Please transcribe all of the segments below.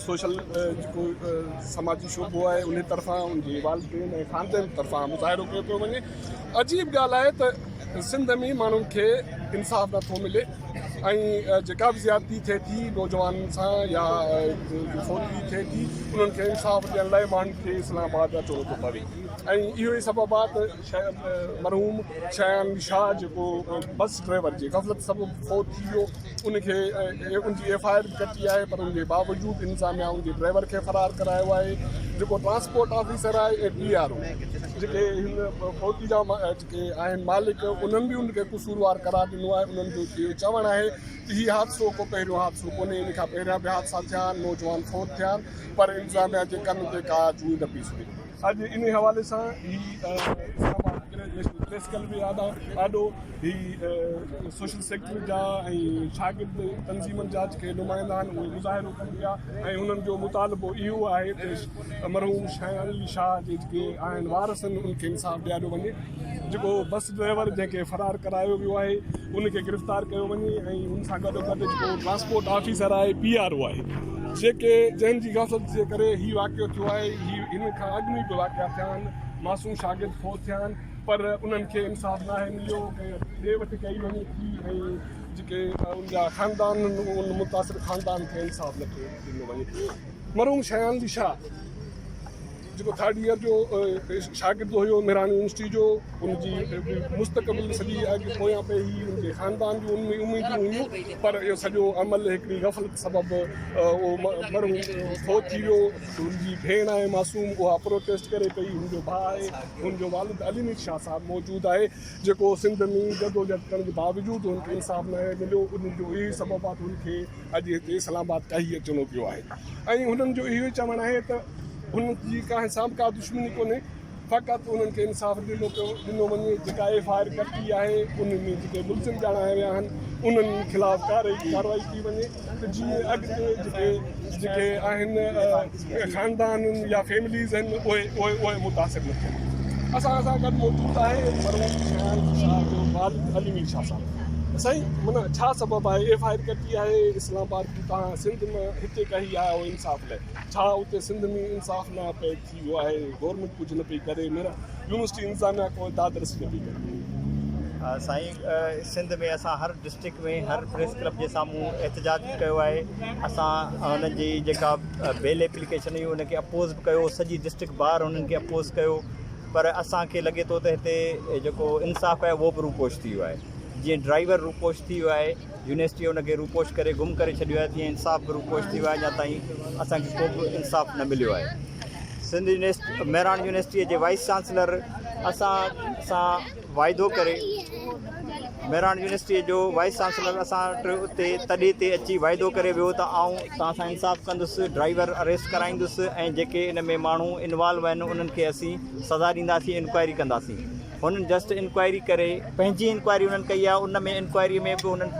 Social جيڪو سماجي شعبو آهي ان طرفان ان جي والدين ۽ خاندان طرفان مظاهرو ڪيو پيو وڃي عجيب ڳالهه آهي ته سنڌ ۾ ماڻهن کي انصاف نٿو ملي ۽ جيڪا به زيادتي ٿئي ٿي نوجوانن سان يا فوجي ٿئي ٿي انهن کي انصاف ڏيڻ لاء ماڻهن کي اسلام آباد اچڻو ٿو پوي ۽ اهو ئي سبب آهي ته مرحوم شيان شاهه جيڪو بس ڊرائيور جي غفلت سبب فوت ٿي ويو ان کي ان جي ايف آء آر به ڪٽي آهي پر ان جي باوجود انتظاميا ان جي ڊرائيور کي فرار ڪرايو آهي جيڪو ٽرانسپورٽ آفيسر آهي ۽ پي آر او جيڪي هن فوتي جا جيڪي آهن مالڪ انهن به ان کي قصوروار قرار ڏنو آهي انهن جو اهو چوڻ آهي ته هي حادثو ڪو پهريون حادثو ڪونهي ان کان پهريان به حادثا ٿيا آهن نوجوان فوت ٿيا آهن پر انتظاميا جي ڪن تي ڪا جوئي نه پيسي اڄ انهي حوالي سان هي اسلام آباد ڪلير نيشنل پريس ڪلب جي آڏو هي سوشل سيڪٽر جا ۽ شاگرد تنظيمن جا جيڪي نمائندا آهن اهي مظاهرو ڪن پيا ۽ انهن جو مطالبو اهو آهي ته مرحوم شاهيان علي شاهه جي جيڪي آهن وارث ان کي انصاف ڏياريو وڃي. جيڪو بس ڊرائيور جنهن کي فرار ڪرايو ويو آهي ان کي گرفتار ڪيو وڃي ۽ ان سان گڏو گڏ جيڪو ٽرانسپورٽ آفيسر آهي پي آر او آهي جيڪي جنهن جي غفلت جي ڪري هي واقعو ٿيو آهي هي ان کان اڳ ۾ به واقعا ٿيا آهن معصوم شاگرد فوت ٿيا آهن پر انهن کي انصاف ناهي مليو ڏي وٺ ڪئي وڃي ٿي ۽ جيڪي ان جا خاندان ان متاثر خاندان کي انصاف نٿو ڏنو وڃي مرحوم شيان علي شاهه جيڪو ٿرڊ ايئر جو شاگرد هيو مهراڻ يونيورسٽي جو ان جي مستقبل سڄي اڳ پويان پئي هئي ان جي خاندان جون ان اميدون هيون پر اهو سڄو عمل هڪڙي غفلت سبب اهو مرحوم فوت ٿي ويو ان جي ڀيڻ آهي معصوم اها پروٽيسٽ ڪري پئي ان جو ڀاء آهي ان جو والد علي مير شاهه صاحب موجود آهي جيڪو سنڌ ۾ جدوجهد ڪرڻ جي باوجود ان کي انصاف نه مليو ان جو اهي سبب آهي ان کي اڄ هتي اسلام آباد ڪا هي اچڻو پيو آهي ۽ هنن جو اهو ئي چوڻ آهي ته هن جي ڪنهن سان به ڪا دشمني ڪونهي فقط انهن کي انصاف ڏنو پيو ڏنو وڃي جيڪا ايف آء آر ڪٽي آهي ان ۾ جيڪي ملزم ڄاڻايا ويا آهن انهن خلاف ڪارروائي ڪارروائي ٿي وڃي ته جيئن اڳتي جيڪي جيڪي آهن خاندان يا فيمليز آهن اهي اهي متاثر نه ٿين اسان اسان گڏ موجود آهي مرحوم سيال شاهه جو والد علي مير شاهه صاحب سائين منا ڇا سبب آهي ايف آئي آر ڪٽي آهي اسلام آباد جي تان سنڌ ۾ هتي ڪهي آيا هو انصاف لاء ڇا اتي سنڌ ۾ انصاف نه پئي ٿي ويو آهي گورنمنٽ ڪجهه نه پئي ڪري ميرا يونيورسٽي انتظاميا ڪو دادرس نه پئي ڪري سائين سنڌ ۾ اسان هر ڊسٽرڪٽ ۾ هر پريس ڪلب جي سامهون احتجاج ڪيو آهي اسان هن جي جيڪا بيل ايپليڪيشن هئي ان کي اپوز به ڪيو سڄي ڊسٽرڪٽ بار انهن کي اپوز ڪيو پر اسان کي لڳي ٿو ته هتي جيڪو انصاف آهي اهو به روپوش ٿي ويو آهي جيئن ڊرائيور روپوش ٿي ويو آهي يونيورسٽي ان کي روپوش ڪري گم ڪري ڇڏيو آهي تيئن انصاف به روپوش ٿي ويو آهي اڃا تائين اسان کي ڪو به انصاف نه مليو آهي سنڌ يونيورسٽي مهراڻ يونيورسٽيء جي وائيس چانسلر اسان سان واعدو ڪري مهراڻ يونيورسٽيء جو وائيس چانسلر اسان وٽ اتي تڏي تي اچي واعدو ڪري ويو ته آئون توهان سان انصاف ڪندس، ڊرائيور اريسٽ ڪرائيندس ۽ جيڪي ان ۾ ماڻهو انوالو آهن انهن کي اسين سزا ڏينداسين، انڪوائري ڪنداسين. هنن جسٽ انڪوائري ڪري پنهنجي انڪوائري هنن ڪئي آهي، ان ۾ انڪوائري ۾ به هنن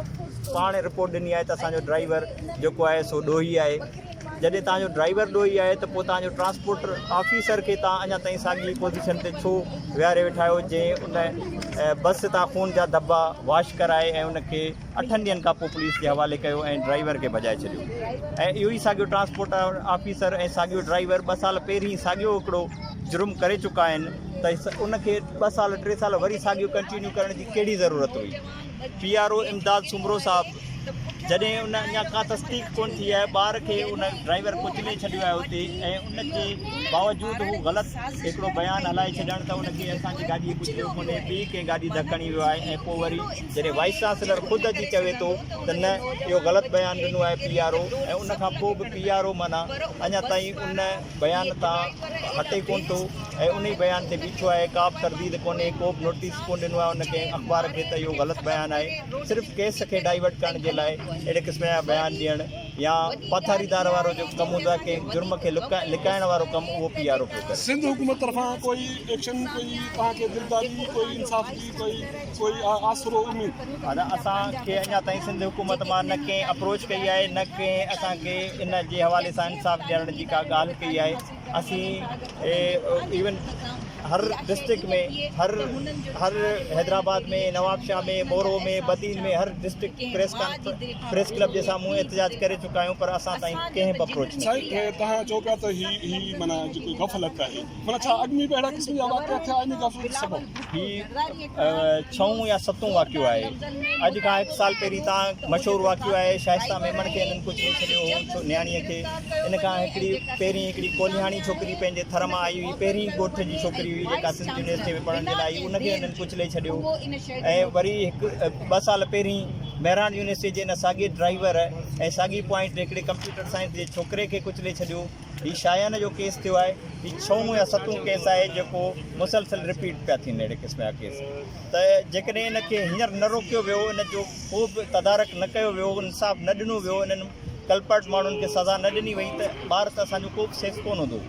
پاڻ رپورٽ ڏني آهي ته اسان جو ڊرائيور جيڪو آهي سو ڏوهي آهي. جڏهن توهان جو ڊرائيور ڏوهي آهي ته پوء توهان جو ٽرانسپورٽ آفيسر کي توهان اڃا تائين ساڳي پوزيشن تي ڇو ويهاري ويٺا آهيو جنهن ان بس تان خون جا ڌٻا واش ڪرائي ۽ ان کي اٺن ڏينهن کان پوء پوليس جي حوالي ڪيو ۽ ڊرائيور کي ڀڄائي ڇڏيو ۽ اهو ئي ساڳيو ٽرانسپورٽ آفيسر ۽ ساڳيو ڊرائيور ٻه سال پهرين ساڳيو هڪڙو جرم ڪري چڪا آهن ته ان کي ٻه سال ٽي سال وري ساڳيو ڪنٽينيو ڪرڻ جي ڪهڙي ضرورت هئي P R O Imdad Soomro صاحب جڏهن ان اڃا ڪا تصديق ڪونه ٿي آهي ٻار کي ان ڊرائيور ڪچلي ڇڏيو آهي اتي ۽ ان جي باوجود هو غلط هڪڙو بيان هلائي ڇڏڻ ته ان کي اسان جي گاڏي ڪچليو ڪونهي ٻي ڪنهن گاڏي ڌڪڻي ويو آهي ۽ پوء وري جڏهن وائيس چانسلر خود اچي چوي ٿو ته نه اهو غلط بيان ڏنو آهي پي آر او ۽ ان کان پوء به پي آر او معنيٰ اڃا تائين ان بيان تان هٽي ڪونه ٿو ۽ انهي بيان تي بيٺو آهي، ڪابه ترديد ڪونهي، ڪوبه نوٽيس ڪونه ڏنو آهي ان ڪنهن اخبار کي ته اهو غلط بيان آهي، صرف ڪيس کي ڊائيورٽ ڪرڻ جي لاء اهڙي قسم جا بيان ڏيڻ يا پاٿاريدار وارو جيڪو ڪم هوندو آهي ڪنهن جرم کي لڪائڻ وارو ڪم اهو پي آر او پيو ڪري. سنڌ حڪومت طرفان ڪوئي ايڪشن ڪوئي توهان کي دلدادي ڪوئي انصاف جي ڪوئي. ڪوئي آسرو اميد. ادا اسان کي اڃا تائين سنڌ حڪومت مان نه ڪنهن اپروچ ڪئي آهي نه ڪنهن اسان کي ان جي حوالي سان انصاف ڏيارڻ جي ڪا ڳالهه ڪئي آهي اسين ايون هر ڊسٽرڪٽ ۾ هر هر حيدرآباد ۾ نوابشاهه ۾ مورو ۾ بدين ۾ هر ڊسٽرڪٽ پريس پريس ڪلب جي سامهون احتجاج ڪري چڪا آهيون پر اسان تائين ڪنهن به اپروچ نه ڪئي آهي سائين توهان چئو پيا ته هي هي معنيٰ جيڪو غفلت آهي مطلب ڇا اڳ ۾ به اهڙا قسم جا واقعا ٿيا آهن غفلت جي سبب هي ڇهون يا ستون واقعو آهي اڄ کان هڪ سال پهرين تان مشهور واقعو آهي شائسته ميمڻ کي هنن ڪجهه ڏيئي ڇڏيو هو ڇو نياڻيء کي ان کان هڪڙي پهرين هڪڙي ڪولهياڻي ڇوڪري پنهنجي ٿر مان آئي هئي پهرين ڳوٺ جي ڇوڪري هئي جيڪا سنڌ يونيورسٽيء ۾ پڙهڻ جي لاء آئي ان کي هنن ڪجهه ڏيئي ڇڏيو ۽ وري هڪ ٻه سال پهرين مهراڻ يونيورسٽيء جي ان ساڳئي ڊرائيور ۽ ساڳئي پوائنٽ تي هڪڙي ڪمپيوٽر سائنس جي ڇوڪري کي ڪچلي ڇڏيو هي شايانه جو ڪيس ٿيو آهي هي ڇهون يا ستون ڪيس آهي جيڪو مسلسل رپيٽ پيا ٿين اهڙي قسم جا ڪيس ته جيڪڏهن ان کي هينئر نه روڪيو ويو ان جو ڪو به تدارڪ نه ڪيو ويو انصاف نه ڏنو ويو انهن ڪلپرٽ ماڻهن کي سزا نه ڏني وئي ته ٻار ته اسان جو ڪو به سيف ڪون هوندو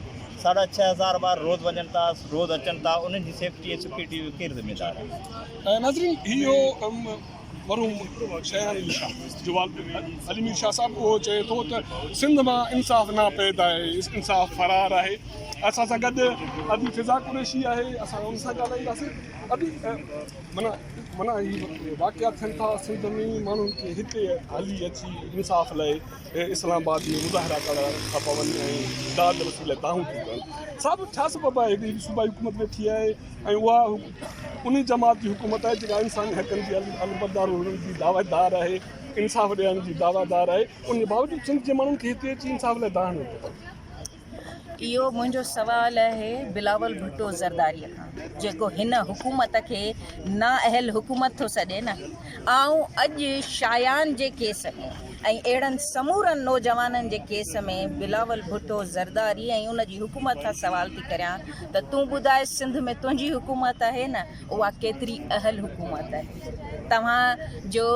ساڍا ڇهه هزار ٻار روز وڃن ٿا روز اچن ٿا انهن جي سيفٽي ۽ سيڪيورٽي جو ڪير ذميدار آهي مرحوم شهراڻي مير شاهه جو والد علي مير شاهه صاحب اهو چئي ٿو ته سنڌ مان انصاف ناپيد آهي، انصاف فرار آهي. اسان سان گڏ ادي فضا قريشي آهي، اسان ان سان ڳالهائينداسين. ادي معنيٰ معنيٰ هي واقعا ٿين ٿا سنڌ ۾ ماڻهن کي هتي هلي اچي انصاف لاء اسلام آباد ۾ مظاهرا ڪرڻا ٿا پون ۽ داد رسي لاء دانهون ٿيون ڪرن. صاحب ڇا سبب آهي هيڏي صوبائي حڪومت ويٺي آهي ۽ اها انهي جماعت جي حڪومت آهي جيڪا انساني حقن جي علمبردار هئڻ جي دعويدار آهي، انصاف ڏيارڻ جي دعويدار آهي، انهي باوجود سنڌ جي ماڻهن کي هتي اچي انصاف لاء دانهن هڻڻو پئي ٿو. اهو منهنجو سوال آهي بلاول ڀٽو زرداري کان جيڪو هن حڪومت کي نااهل حڪومت ٿو سڏي نه. آئون اڄ شايان جي ڪيس ۾ ۽ اهڙن سمورن نوجوانن جي ڪيس ۾ بلاول ڀٽو زرداري ۽ ان جي حڪومت کان سوال ٿي ڪريان ته تون ٻڌاء سنڌ ۾ تنهنجي حڪومت آهي نه اها ڪيتري اهل حڪومت آهي توهان جو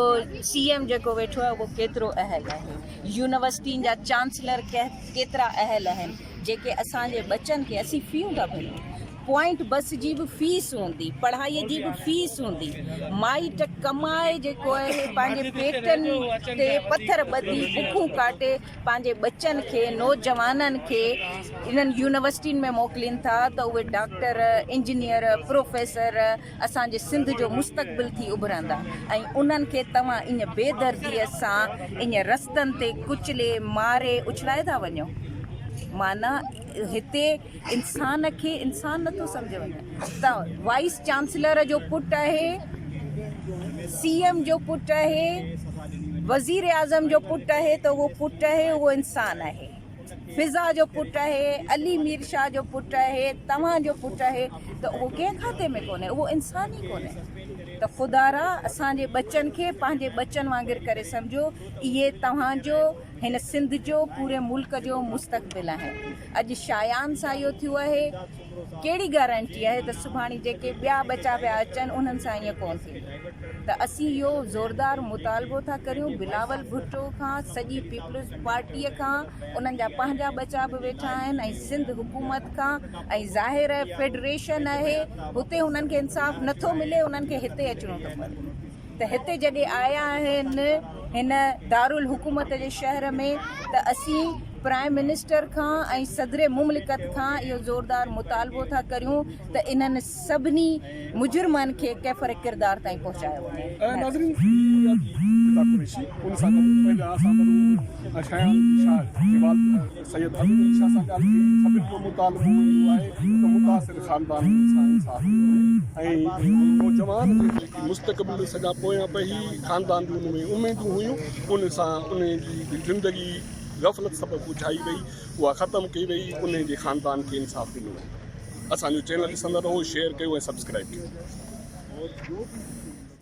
سي ايم جيڪو ويٺو آهي اهو ڪيترو اهل آهي يونيورسٽين جا چانسلر ڪيترا اهل آهن جيڪي اسان جي ٻچن کي اسين فيون ٿا ڀريون پوائنٽ بس جي به فيس هوندي پڙهائي جي به فيس هوندي مائٽ ڪمائي جيڪو اهي پنهنجي پيٽن تي پٿر ٻڌي بکون ڪاٽي پنهنجي ٻچن کي نوجوانن کي انهن يونيورسٽين ۾ موڪلين ٿا ته اهي ڊاڪٽر انجنيئر پروفيسر اسان جي سنڌ جو مستقبل ٿي اڀرندا ۽ انهن کي توهان ايئن بي دردي سان ايئن رستن تي ڪچلي ماري اڇلائي ٿا وڃو معنيٰ هتي انسان کي انسان نٿو سمجهيو وڃي ته وائيس چانسلر جو پٽ آهي سي ايم جو پٽ آهي وزير اعظم جو پٽ آهي ته اهو پٽ آهي اهو انسان آهي فضا جو پٽ آهي علي مير شاهه جو پٽ آهي توهان جو پٽ آهي ته اهو ڪنهن کاتي ۾ ڪونهي اهو انسان ئي ڪونهي ته خدا را اسان جي ٻچن کي پنهنجي ٻچن وانگر ڪري سمجهو اهي توهان جو هن سنڌ جو پوري ملڪ جو مستقبل آهن اڄ شايان سان اهو ٿيو اهي ڪهڙي گارنٽي آهي ته سڀاڻي جيڪي ٻيا ٻچا پيا اچن انهن سان ائين ڪونه ٿيندو ته اسين اهو زوردار مطالبو ٿا ڪريون بلاول ڀٽو کان سڄي پيپلز پارٽي کان انهن جا پنهنجا ٻچا به ويٺا آهن ۽ سنڌ حڪومت کان ۽ ظاهر فيڊريشن اهي هتي انهن کي انصاف نٿو ملي انهن کي هتي اچڻو ٿو پوي. ته هتي جڏهن آيا آهن هن دارالحڪومت جي شهر ۾ ته اسين پرائم منسٽر کان ۽ صدر مملڪت کان اهو زوردار مطالبو ٿا ڪريون ته انهن سڀني مجرمن کي ڪيفر ڪردار تائين پهچايو وڃي. ناظرين ٿيندي آهي ڪي ڪي رضا قريشي ان سان گڏ پنهنجا سامان ۽ شيان شاهه جي والد سيد حبيب علي شاهه سان ڳالهه ٿي، سڀني جو مطالبو اهو آهي ته متاثر خاندانن سان انصاف ٿيو وڃي ۽ نوجوان جي جيڪي مستقبل سڄا پويان پيهي خاندان جون ان ۾ اميدون هيون ان سان ان جي زندگي غفلت سبب اجهائي وئي اها ختم ڪئي وئي ان جي خاندان کي انصاف ڏنو وڃي اسان جو چينل ڏسندا رهو شيئر ڪيو ۽ سبسڪرائيب ڪيو.